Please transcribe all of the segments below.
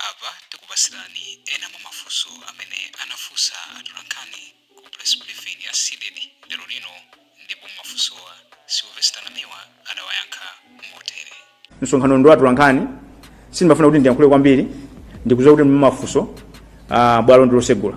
Apa tikupatsirani ena mwa mafunso amene anafunsa atolankhani ku press briefing ya Cdedi lero lino ndipo mumafunsowa Silvester Namiwa anawayankha motere. Msonkhanowu ndi wa atolankhani, sindimafuna kuti ndiyankhule kwambiri ndikudziwa kuti muli ndi mafunso, bwalo ndi losegula.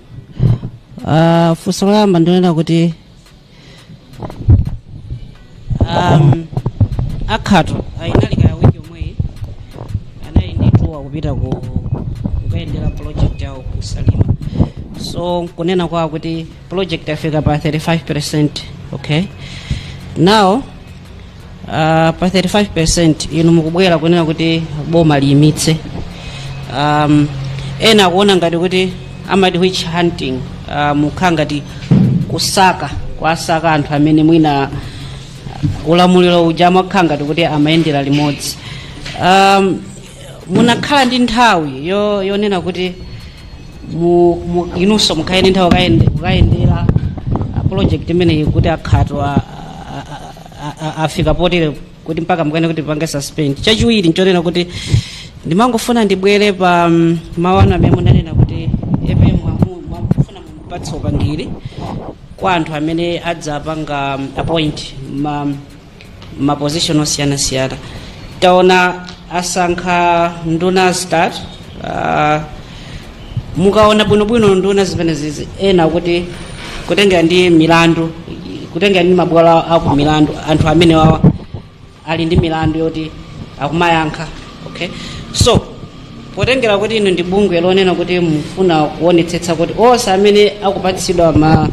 Uh, funso loyamba ndinena kuti um, a Khato inali kaya week yomweyi anali ndi tour kupita ku kukayendera project yawo ku Salima so nkunena kwawo kuti project yafika pa 35 percent okay now Uh, pa 35% inu mukubwera kunena kuti boma liyimitse um, ena akuona ngati kuti amati witch hunting uh, mukhala ngati kusakasaka anthu amene mwina ulamuliro uja amakhala ngati kuti amayendera limodzi um, munakhala ndi nthawi yo- yonena kuti mu- mu- inunso mukhale ndi nthawi kukayende- kukayendera a project imeneyi kuti a Khato a- a- afika potere kuti mpaka mukane kuti apange suspend chachiwiri nchonena kuti ndimangofuna ndibwere pa mm, mawu anu amene munanena kuti APM mwafuna mumupatse upangiri kwa anthu amene adzapanga mm, appoint ma ma position osiyanasiyana taona asankha nduna start uh, mukaona bwinobwino nduna zimenezizi ena kuti kutengera ndi milandu kutengera ndi mabwalo aku milandu anthu amene wawa ali ndi milandu yoti akumayankha okay so potengera kuti inu ndi bungwe lonena kuti mufuna kuonetsetsa kuti onse amene akupatsidwa ma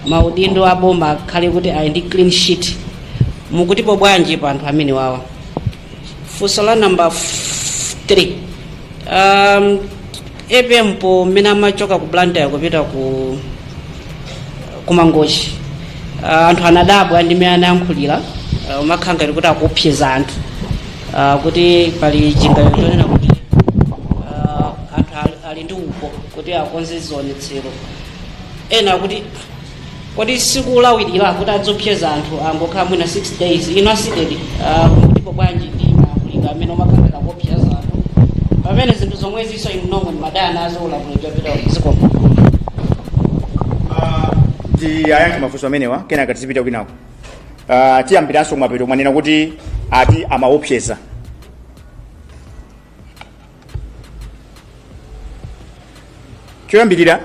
maudindo aboma akhale kuti ali ndi clean sheet mukutipo bwanji pa anthu amene wawa funso la namba 3 um, APM pa mmene amachoka ku Blantyre kupita ku ku Mangochi uh, anthu anadabwa ndi mmene anayankhulira uh, umakhala ngati kuti akuopseza anthu uh, kuti pali chiganizo chonena kuti uh, anthu ali- ali ndi upo kuti akonze zionetsero ena akuti kodi sikulawirira kuti adziopseza anthu angokhala mwina 6 days inu a Cdedi mukutipo bwanji ndi malankhulidwe amene akumakhala kuopseza anthu pamene zinthu zomwezinso inu nomwe mumadana nazo ulamuliro wapita zikomo tiyayankhe mafunso amenewa kenaka tizipita kwinako Ah, tiyambiranso kumapeto mwanena kuti ati amaopseza choyambirira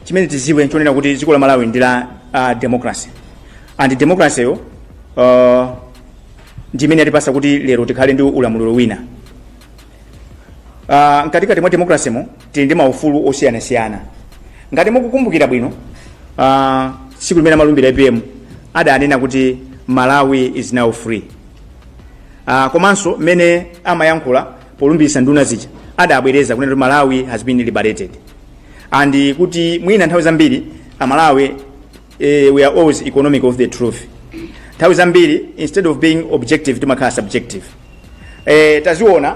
chimene tiziwe nchonena kuti dziko la malawi ndi la uh, democracy and democracy yo uh, ndi imene yatipasa kuti lero tikhale ndi ulamuliro wina uh, mkatikati mwa democracy mo tili ndi maufulu osiyanasiyana ngati mukukumbukira bwino uh, tsiku limene amalumbira apm adanena kuti malawi is now free Ah, komanso mmene amayankhula polumbiritsa nduna zija adabwereza kunena kuti malawi has been liberated and kuti mwina nthawi zambiri amalawi eh, we are always economic of the truth nthawi zambiri instead of being objective timakhala subjective eh, taziona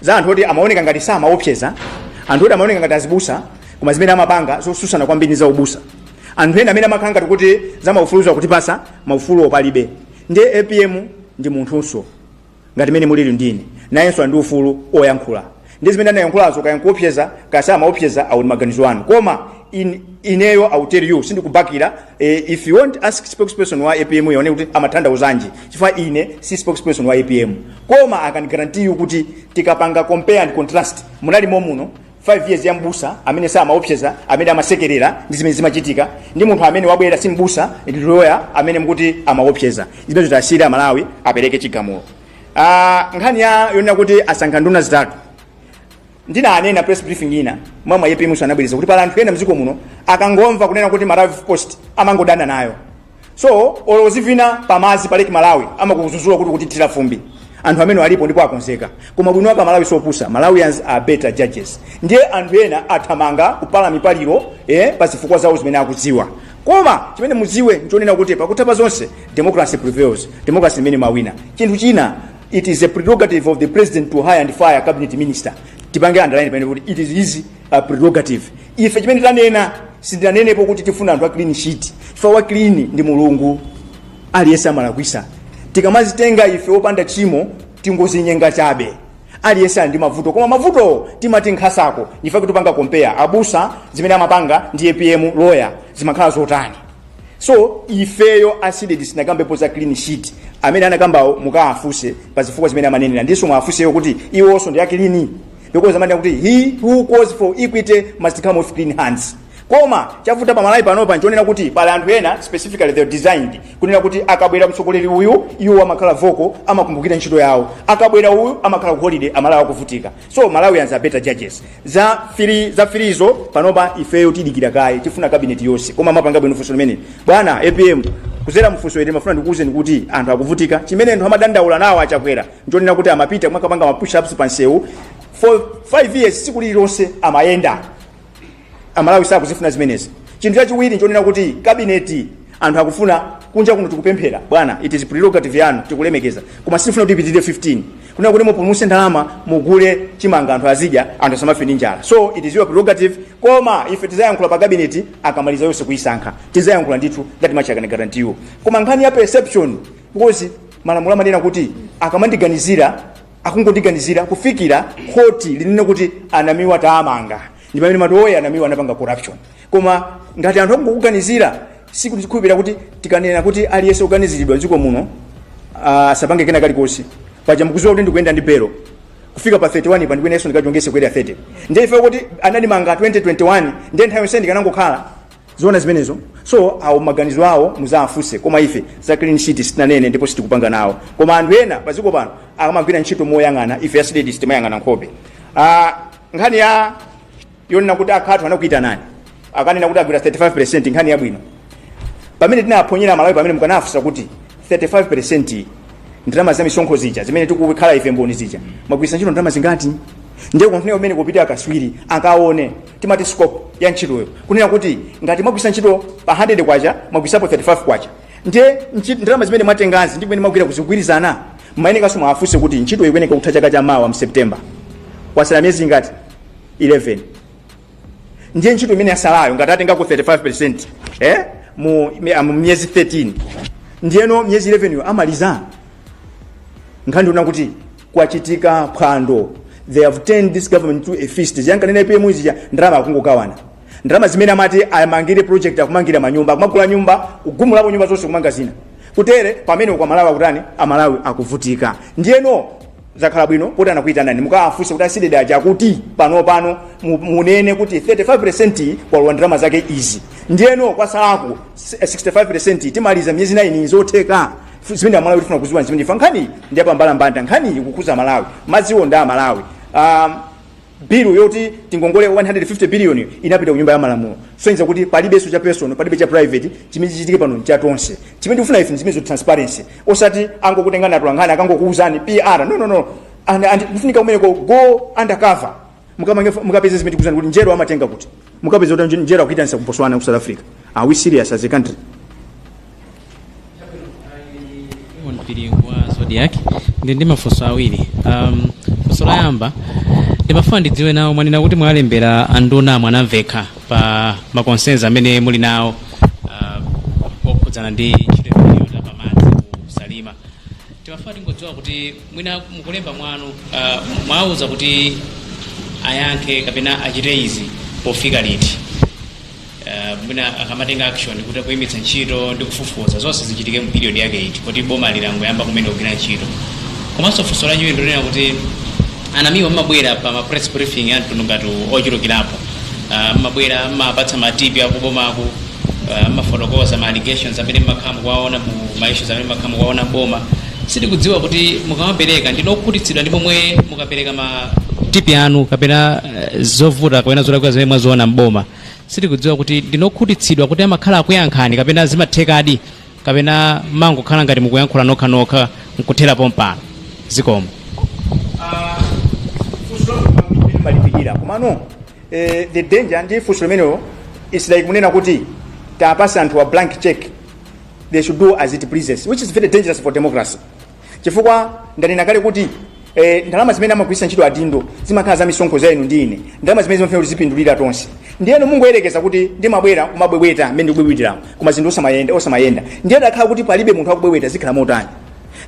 za anthu oti amaoneka ngati samaopseza anthu oti amaoneka ngati azibusa koma zimene amapanga zosusana kwambiri za ubusa anthu ena amene amakhala ngati kuti za maufulu akutipasa maufuluwo palibe ndiye apm ndi munthunso ngati mene mulili ndi ine nayenso ali ndi ufulu oyankhula ndi zimene anayankhulazo kaya nkuopseza kaya samaopseza awo ndi maganizo anu koma in, ineyo I will tell you sindikubakira eh, if you want ask spokesperson wa apm yo kuti amatanthauzanji chifukwa ine si spokesperson wa apm koma I can guarantee you kuti tikapanga compare and contrast munali momuno 5 years ya mbusa amene samaopseza amene amasekerera ndi zimene zimachitika ndi munthu amene wabwera si mbusa ndi loya amene mukuti amaopseza zimenezo tiwasiyire amalawi apereke chigamulo Ah, nkhani ya yonena kuti asankha nduna zitatu ndinanena press briefing ina mwamva apm nso anabwereza kuti pali anthu ena mdziko muno akangomva kunena kuti maravi post amangodana nayo so olo uzivina pamazi pa lake malawi amakuzuzula kuti ukutithira fumbi anthu amenewo alipo ndipo akonzeka koma ubwino wake amalawi siopusa malawians are better judges ndiye anthu ena athamanga kupala mipaliro eh, pa zifukwa zawo zimene akudziwa koma chimene mudziwe nchonena kuti pakutha pa zonse democracy prevails democracy imene imawina chinthu china it is a prerogative of the president to hire and fire cabinet minister tipange underline pamenepo kuti it is his a prerogative ife chimene tanena sindinanenepo kuti tifuna anthu a clean sheet chifukwa wa clean ndi mulungu aliyense amalakwisa tikamazitenga ife opanda tchimo tingozinyenga chabe aliyense ali ndi mavuto koma mavutowo timati nkhasako ife kutipanga compare abusa zimene amapanga ndi apm lawyer zimakhala zotani so ifeyo a cdedi sitinakambepo za clean sheet amene anakambawo mukaafuse pa zifukwa zimene amanenera ndiso muwafuse iwo kuti iwonso ndi a clean because amati kuti he who calls for equity must come with clean hands koma chavuta pa malawi panopa nchonena kuti pali anthu ena specifically they are designed kunena kuti akabwera mtsogoleri uyu iwo amakhala vocal amakumbukira ntchito yawo akabwera uyu amakhala ku holiday amalawi akuvutika so malawians are better judges za three za three zo panopa ifeyo tidikira kaye tifuna kabineti yonse koma amapanga bwino funso limene bwana apm kuzera mfunso ili ndimafuna ndikuwuzeni kuti anthu akuvutika chimene anthu amadandaula nawo achakwera nchonena kuti amapita makapanga ma push ups pansewu for 5 years tsiku lililonse amayenda amalawi sakuzifuna zimenezi chinthu chachiwiri nchonena kuti kabineti anthu akufuna kunja kuno tikupemphera bwana it is prerogative yanu tikulemekeza koma sifuna kuti ipitirire 15 kunena kuti mupulumutse ndalama mugule chimanga anthu azidya anthu asamafe ndi njala so it is your prerogative koma ife tizayankhula pa kabineti akamaliza yonse kuyisankha tizayankhula ndithu that much I can guarantee you koma nkhani ya perception because malamulo amanena kuti akamandiganizira akungondiganizira kufikira khoti linene kuti a Namiwa taamanga ndi pamene mati oya a Namiwa anapanga corruption koma ngati anthu akungokuganizira sikuti tikhulupirira kuti tikanena kuti aliyense oganiziridwa dziko muno ah, asapange kena kalikonse paja mukuziwa kuti ndikuyenda ndi belo kufika pa 31 pa ndikuyeneso ndikachongese before 30 ndiye ife kuti anatimanga 2021 ndiye nthawi yonse ndikanangokhala Zoona zimenezo so awo maganizo awo muzaafuse koma ife za clean sheet sitinanene ndipo sitikupanga nawo koma anthu ena padziko pano akamagwira ntchito moyang'ana ife a CDEDI sitimayang'ana nkhope ah, nkhani ya yonena kuti a Khato anakuitanani akanena kuti agwira 35 nkhani yabwino pamene tinaphonyera Malawi pamene mukanafunsa kuti 35 ndalama za misonkho zija zimene tikukhala ife mboni zija mwagwiritsa ntchito ndalama zingati ndiye kufunika kumene kupita akaswiri akaone timati scope ya ntchitoyo kunena kuti ngati mwagwisa ntchito pa 100 kwacha mwagwisapo 35 kwacha ndiye nchi- ndalama zimene mwatengazi ndi kumene mwagwira kukugwirizana muyenekaso muwafunse kuti ntchito ikuyeneka kutha chaka cha mawa mu September kwasala miyezi ingati 11 ndiye ntchito imene yasalayo ngati atengako 35 eh? mu mi- ah, mu miyezi 13 ndiyeno miyezi 11 yo amaliza nkhani ndi yonena kuti kwachitika phwando they have turned this government to a feast zija ankanena APM zija ndalama akungokawana ndalama zimene amati amangire project akumangira manyumba akumagula nyumba kugumulapo nyumba zonse kumanga zina kutere pamene kwa Malawi akutani amalawi akuvutika ndiyeno zakhala bwino kuti anakuyitanani mukawafunse kuti a CDEDI aja kuti pano pano mu- munene kuti 35 kwalowa ndalama zake izi ndiyeno kwasalako 65 timaliza miyezi 9 zotheka Fu- zimene amalawi tifuna kuziwa zimene ife nkhani ndi ya pambalambanda nkhani ikukhuza Malawi madziwo ndi a Malawi um, bilu yoti tingongole 150 billion inapita ku nyumba ya malamulo sonyiza kuti palibenso cha personal palibe cha private chimene chichitike pano cha tonse chimene tikufuna ife ndi zimene zo transparency osati angokutengani atolankhani akangokuuzani PR no no no and, and kufunika kumeneko go undercover mukapeze zimene tikuuzana kuti njero amatenga kuti mukapeze kuti njero akuitanisa ku Botswana ku South Africa are we serious as a country Mpiringu wa Zodiak ndi ndi mafunso awiri um, funso loyamba ndimafuna ndidziwe nawo mwanena kuti mwalembera anduna mwanamveka pa ma concerns amene muli nawo uh, okhudzana ndi ntchito imeneyo ya pamadzi ku Salima timafuna tingodziwa kuti mwina mukulemba mwanu uh, mwauza kuti ayankhe kapena achite izi pofika liti uh, mwina akamatenga action kuti kuyimitsa ntchito ndi kufufuza zonse zichitike mu period yake iti kuti boma langoyamba kumene kugwira ntchito komanso funso lachiwiri ndonena kuti a Namiwa mmabwera pa ma press briefing a mtundu ngati uwu ochulukirapo uh, mmabwera mmapatsa matipi a kubomako uh, mmafotokoza ma allegations amene mmakhala mukuwaona ma issues amene mmakhala mukuwaona mboma sitikudziwa kuti mukamapereka ndinu okhutitsidwa ndi pomwe mukapereka ma tipi anu kapena uh, zovuta kapena zolakwika zimene mwaziona mboma sitikudziwa kuti ndinu okhutitsidwa kuti amakhala akuyankhani kapena zimathekadi kapena mmangokhala ngati mukuyankhula nokha nokha nkuthera pompo zikomo malipikira komano Eh, the danger ndi funso limenelo it's like munena kuti tapatsa anthu a blank check they should do as it pleases which is very dangerous for democracy chifukwa ndanena kale kuti eh, ndalama zimene amagwiritsa ntchito adindo zimakhala za misonkho za inu ndi ine ndalama zimene zimafuna kuti zipindulire tonse ndiyeno mungoyerekeza kuti ndimabwera kumabwebweta mmene ndikubwebweteramu koma zinthu osamayenda osamayenda ndiye atakhala kuti palibe munthu akubwebweta zikhala motani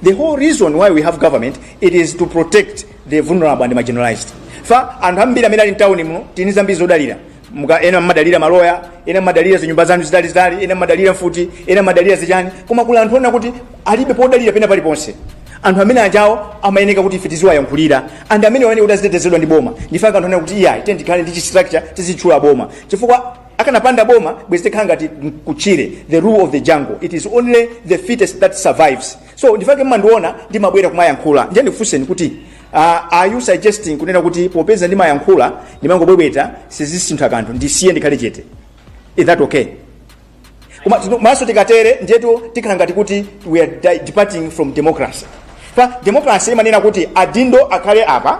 the whole reason why we have government it is to protect the vulnerable and marginalized fa anthu ambiri amene ali mtawuni muno tili ndi zambiri zodalira Muka- ena mmadalira maloya ena mmadalira zinyumba zanu zitalizitali ena mmadalira mfuti ena mmadalira zichani koma kuli anthu onena kuti alibe podalira pena paliponse anthu amene ajawo amayeneka kuti ife tiziwayankhulira and amene amayeneka kuti azitetezedwa ndi boma ndichifukwa anthu onena kuti iyayi tiye tikhale ndi chistructure tizitchula boma chifukwa pakanapanda boma bwezi tikhala ngati kuchire the rule of the jungle it is only the fittest that survives so nchifukwa chake mmandiona ndimabwera kumayankhula ndiye ndikufunseni kuti uh, are you suggesting kunena kuti popeza ndimayankhula ndimangobwebweta sizisintha kanthu ndisiye ndikhale chete is that okay koma tino- mmaso tikatere ndiyetu tikhala ngati kuti we are di- departing from democracy pa democracy imanena kuti adindo akhale apa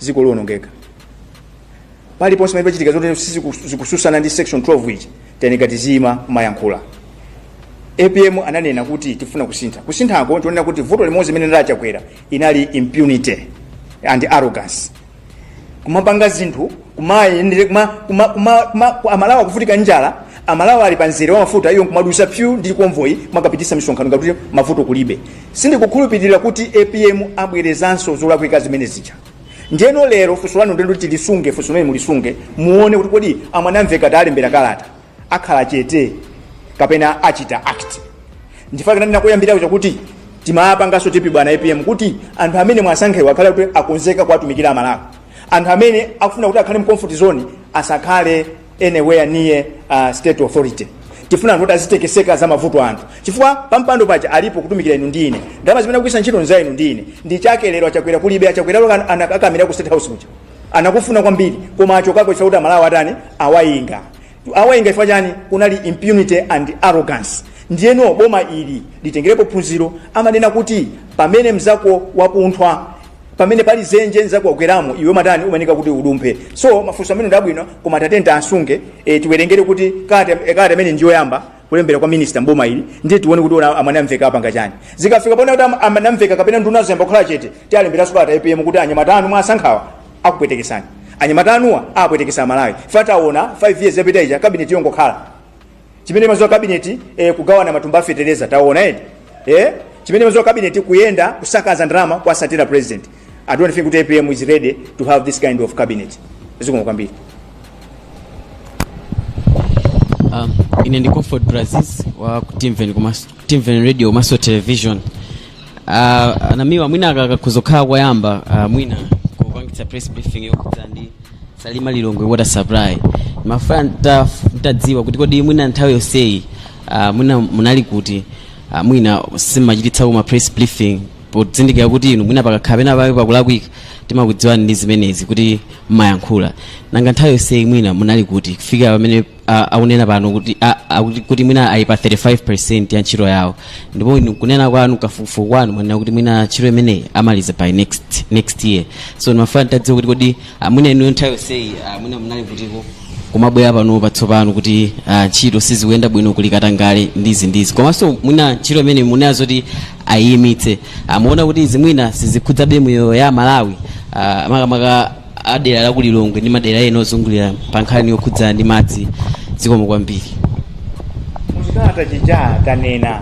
dziko liwonongeka paliponse pamene pachitika zotero siziku- zikutsutsana ndi section 12 ifetu tiyeneka tiziyima kumayankhula APM ananena kuti tifuna kusintha kusinthako tikunena kuti vuto limodzi limene linali la Chakwera linali impunity and arrogance kumapanga zinthu kumayendere kuma, kuma, kuma, kuma, ku- Amalawi akuvutika njala Amalawi ali pa nzere wa mafuta iyo nkumadusa pyu ndi konvoyi kumakachititsa misonkhano ngati mavuto kulibe Sindikukhulupilira kuti APM abwerezanso zolakwika zimene zija. Ndiyeno lero funso lanu ndilo tilisunge funso limene mulisunge muone kuti kodi a Mwanamvekha tawalembera kalata akhala chete kapena achita act. Nchifukwa chake ndinanena koyambirira kuja kuti timawapanganso tipi bwana APM kuti anthu amene muwasankhewa akhale kuti akonzeka kuwatumikira Amalawi. Anthu amene akufuna kuti akhale mu comfort zone asakhale anywhere near uh, state authority tifuna anthu kuti azitekeseka za mavuto anthu chifukwa pampando paja ali po kutumikira inu ndi ine ndalama zimene akugwiritsa ntchito nza inu ndi ine nchake lero achakwera kulibe achakwera lero anakakamira ku state house kuja anakufuna kwambiri koma achokako chifukwa kuti aMalawi atani awayinga awayinga chifukwa chani kunali impunity and arrogance ndiyeno boma ili litengerepo phunziro amanena kuti pamene mzako wapunthwa pamene pali zenje nzako wagweramo iwe umatani umayenika kuti udumphe so mafunso amene ndi abwino koma tiyeni tiasunge e, tiwerengere kuti kalata e, kalata imene ndi yoyamba kulembera kwa minista mboma ili ndiye tione kuti ona a Ben amveka apanga chani zikafika poona kuti am- amene amveka kapena nduna zayamba kukhala chete tiwalemberanso kalata apm kuti anyamata anu mwasankhawa akupwetekesani anyamata anuwa apwetekesa amalawi ife taona 5 years yapita ija kabineti yongokhala chimene imaziwa kabineti eh, kugawana matumba a fetereza taonani eh? chimene imaziwa kabineti kuyenda kusakaza ndalama kuwatsatira president i don't think that apm is ready to have this kind of cabinet zikomo kwambiri Um, ine ndi comfort brazis wa ku timven komanso- timven radio komanso television Ah, a Namiwa mwina aka kakhoza kukhala koyamba ah, mwina kupangitsa press briefing yokhudza ndi salima lilongwe water supply ndimafuna ntaf- ntadziwa kuti kodi mwina nthawi yonseyi ah, mwina munali kuti ah, mwina simmachititsako ma press briefing podzindikira kuti inu mwina pakakhala pena pake pakulakwika timakudziwani ndi zimenezi kuti mmayankhula nanga nthawi yonseyi mwina munali kuti kufika pamene a- akunena pano kuti a- akuti- kuti mwina ali pa 35 ya ntchito yawo ndipo inu kunena kwanu kafukufuku wanu mwanena kuti mwina ntchito imeneyi amaliza by next next year so ndimafuna ntadziwa kuti kodi ah, mwina inu nthawi yonseyi ah, mwina munali kutiko kumabwera pano patsopano kuti ah, ntchito sizikuyenda bwino kuli katangale ndi izi ndi izi komanso mwina ntchito imene munena zoti ayimitse simukuona kuti izi mwina sizikhudzabe miyoyo ya amalawi ah, makamaka a dera la ku lilongwe ndi madera ena ozungulira pa nkhani yokhudza ndi madzi zikomo kwambiri muchikalata chija tanena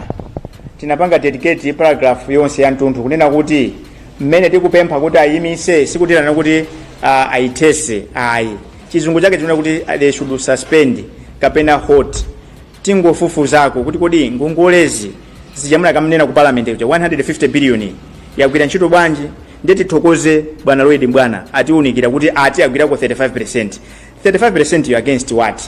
tinapanga dedicate paragraph yonse ya mtunthu kunena kuti mmene tikupempha kuti ayimise sikutinena kuti uh, ayithese ayi chizungu chake chimanena kuti they should suspend kapena halt tingofufuzako kuti kodi ngongole zija munakanena ku parliament kuja 150 billion yagwira ntchito bwanji ndiye tithokoze bwana Lloyd Mbwana atiunikira kuti ati agwirako 35 35%yo against what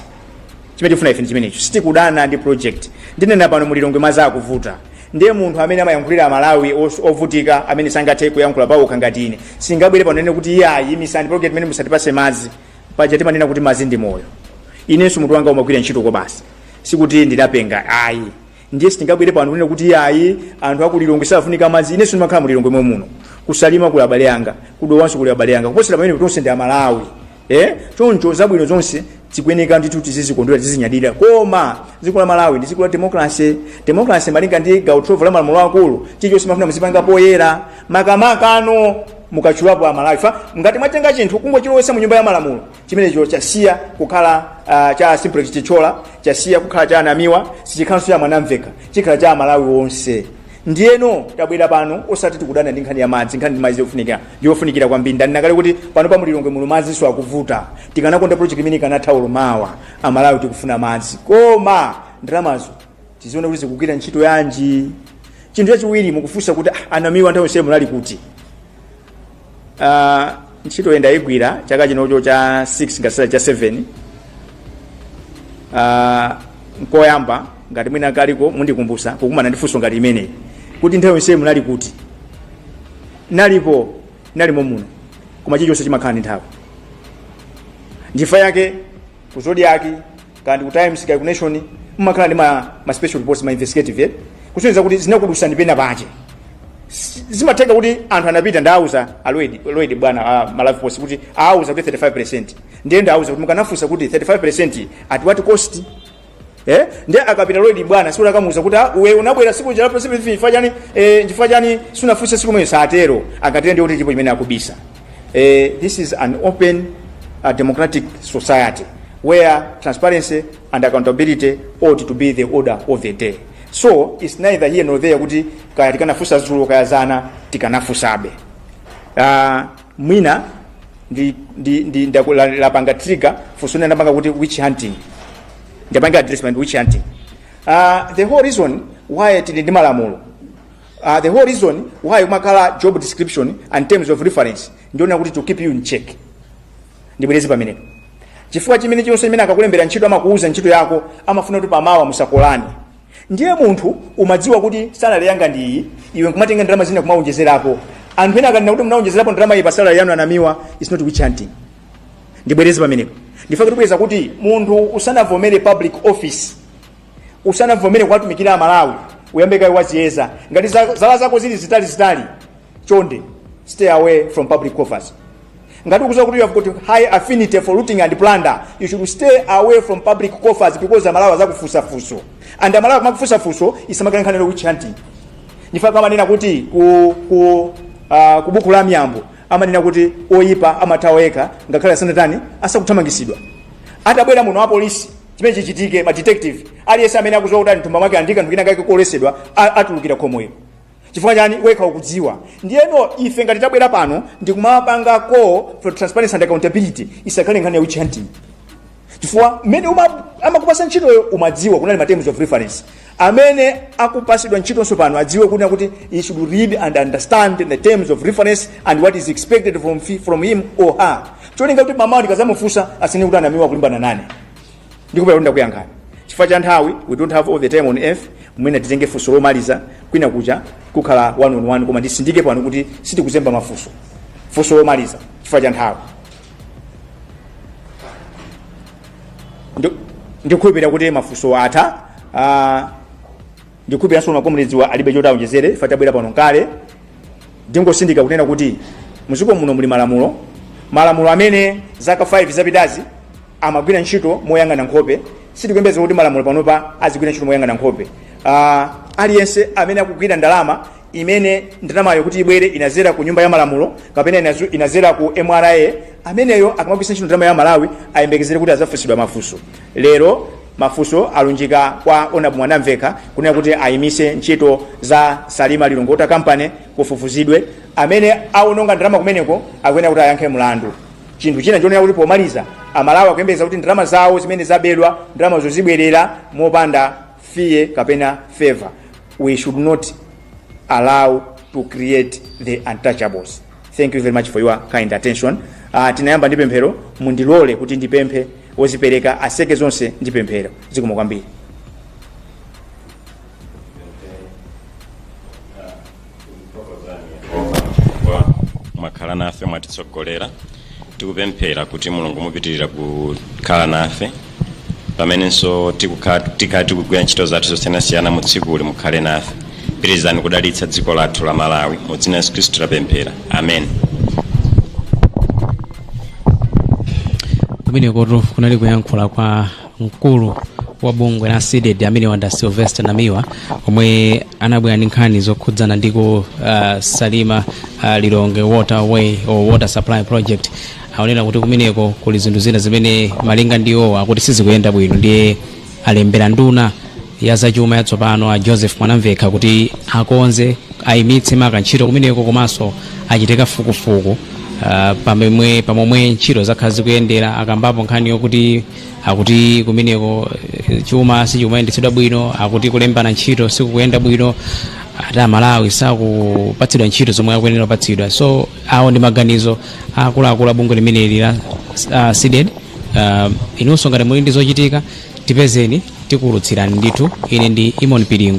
chimene tifuna ife ndi chimenecho sitikudana ndi project ndinena pano mulilongwe madzi akuvuta ndiye munthu amene amayankhulira amalawi os- ovutika amene sangathe kuyankhula paokha ngati ine sindingabwere pano nkunena kuti iyayi imitsani project imene musatipatse madzi paja timanena kuti madzi ndi moyo inenso mutu wanga umagwira ntchito kobasi sikuti ndidapenga ayi ndiye sitingabwere pano kunena kuti ayi anthu aku lilongwe safunika madzi inenso ndimakhala mulilongwe momwe muno kusalima kuli abale anga kudowanso kuli abale anga kuposera pamene tonse ndi amalawi eh choncho zabwino zonse zikuyeneka ndithu tizizikondwera tizinyadira koma dziko la malawi ndi dziko la demokalase demokalase malinga ndi gawo 12 la malamulo akulu chilichonse mafuna muzipanga poyera makamaka pano mukatchulapo amalawi chifukwa ngati mwatenga chinthu kungochilowesa mu nyumba ya malamulo chimenecho chasiya kukhala uh, cha simplex chithyola chasiya kukhala cha a namiwa sichikhalanso cha mwanamvekha chikhala cha amalawi onse ndiyeno tabwera pano osati tikudana ndi nkhani ya madzi nkhani ya madzi yofunikira yofunikira kwambiri ndanena kale kuti pano pa mulilongwe muno madzinso akuvuta tikanakonda project imeneyi ikanatha olo mawa amalawi tikufuna madzi koma ndalamazo tiziona kuti zikugwira ntchito yanji chinthu chachiwiri mukufunsa kuti "Ah, a namiwa nthawi yonse munali kuti Ah, ntchitoyi ndaigwira chaka chino ncha 6 ngati si cha 7 Ah, nkoyamba ngati mwina kaliko mundikumbutsa kukumana ndi funso ngati limeneli kuti nthawi yonse munali kuti ndinalipo ndinalimo muno koma chilichonse chimakhala ndi nthawi nchifukwa chake ku zodiak kaya ndi ku times kaya ndi ku nation mumakhala ndi ma, ma special reports ma investigative eh? kusonyeza kuti zinakudutsani pena pake S- zimatheka kuti anthu anapita ndauza a lloyd a lloyd m'bwana a maravi post kuti auza kuti 35 ndiye ndauza kuti mukanafunsa kuti 35 at what cost eh ndiye akapita a lloyd m'bwana sikuti akamuuza kuti "Ah, iwe unabwera tsiku jalapo tsiku chifukwa chani eh, chifukwa chani sunafunse tsiku lomwe satero akatero ndiye kuti chilipo chimene akubisa Uh, this is an open uh, democratic society where transparency and accountability ought to be the order of the day. So it's neither here nor there kuti kaya tikanafunsa dzulo kaya dzana tikanafunsabe. Uh, mwina ndi, ndi, ndi, ndi la, lapanga trigger funso lina ndapanga kuti witch hunting. Ndapanga address pa witch hunting. Uh, the whole reason why tili ndi malamulo Uh, the whole reason why umakhala job description and terms of reference ndi yonena kuti to keep you in check ndibwereze pamenepo chifukwa chimene chonse chimene akakulembera ntchito amakuuza ntchito yako amafuna kuti pamawa musakolane ndiye munthu umadziwa kuti salary yanga ndi iyi iwe nkumatenga ndalama zina kumawonjezerapo anthu ena akanena kuti munawonjezerapo ndalama iyi pa salary yanu a namiwa is not witch hunting ndibwereze pamenepo nchifukwa chake tipeza kuti munthu usanavomere public office usanavomere kuwatumikira amalawi uyambe kaye waziyeza ngati za- zala zako zili zitali zitali chonde stay away from public coffers ngati ukuziwa kuti you have got high affinity for looting and plunder you should stay away from public coffers because amalawi azakufunsa funso and amalawi kumakufunsa funso isamakhale nkhani ya witch hunting nchifukwa chake amanena kuti ku, ku, uh, ku buku la miyambo amanena kuti oyipa amathawa yekha ngakhale asanatani asakuthamangisidwa atabwera muno apolisi chimene chichitike ma detective aliyense amene akuziwa kuti ali mthumba mwake andi kanthu kina kake koletsedwa a- atulukira khomoyo chifukwa chani wekha ukudziwa ndiyeno ife ngati tabwera pano ndikumapanga call for transparency and accountability isakhale nkhani ya witch hunting chifukwa mmene uma- amakupasa ntchitoyo umadziwa kunali ma terms of reference amene akupatsidwa ntchitonso pano adziwe kunena kuti he should read and understand the terms of reference and what is expected from, fi- from him or her cholinga kuti mamawa ndikazamufunsa asanene kuti a namiwa akulimbana nane ndikukhulupirira kuti ndakuyankhani chifukwa cha nthawi we don't have all the time on earth mwina titenge funso lomaliza kwina kutha kukhala one on one koma ndisindike pano kuti sitikuzemba mafunso funso lomaliza chifukwa cha nthawi ndikukhulupirira kuti mafunso atha ah, ndikukhulupiriranso ma comrades awa alibe choti aonjezere ife tabwera pano nkale ndingosindika kunena kuti muziko muno muli malamulo malamulo amene zaka 5 zapitazi amagwira ntchito moyang'ana nkhope sitikuyembeza kuti malamulo panopa azigwira ntchito moyang'ana nkhope Ah, aliyense amene akugwira ndalama imene ndalamayo kuti ibwere inazera ku nyumba ya malamulo kapena inazu- inazera ku mra ameneyo akamagwiritsa ntchito ndalama ya malawi ayembekezere kuti azafunsidwa mafunso lero mafunso alunjika kwa honourable mwanamvekha kunena kuti ayimise ntchito za salima lilongwe water company kufufuzidwe amene awononga ndalama kumeneko akuyenera kuti ayankhe mlandu chinthu china chonena kuti pomaliza amalawi akuyembekeza kuti ndalama zawo zimene zabedwa ndalamazo zibwerera mopanda fear kapena favor we should not allow to create the untouchables thank you very much for your kind attention uh, tinayamba ndi pemphero mundilole kuti ndipemphe wozipereka aseke zonse ndi pemphero zikomo kwambiri mwakhala nafe mwatitsogolera tikupemphera kuti mulungu mupitirira kukhala nafe pamenenso tikukhala tikhala tikugwira ntchito zathu zosiyanasiyana mu tsikuli mukhale nafe pitirizani kudalitsa dziko lathu la malawi mu dzina la yesu khristu tapemphera amen kumenekotu kunali kuyankhula kwa mkulu wa bungwe la cdedi ameneyo nda sylvester namiwa omwe anabwera ndi nkhani zokhudzana ndi ku uh, salima uh, lilongwe waterway or water supply project aonera kuti kumeneko kuli zinthu zina zimene malinga ndi iwo akuti sizikuyenda bwino ndiye alembera nduna ya zachuma yatsopano a joseph mwanamvekha kuti akonze ayimitse maka ntchito kumeneko komanso achite kafukufuku uh, pamemwe pamomwe ntchito zakhala zikuyendera akambapo nkhani yokuti akuti kumeneko eh, chuma sichikumayendetsedwa bwino akuti kulembana ntchito sikukuyenda bwino ati amalawi sakupatsidwa ntchito zomwe akuyenera kupatsidwa so awo ndi maganizo a akuluakulu a bungwe limeneli la uh, cdedi uh, inunso ngati muli ndi zochitika tipezeni tikuwulutsirani ndithu ine ndi imon pilingo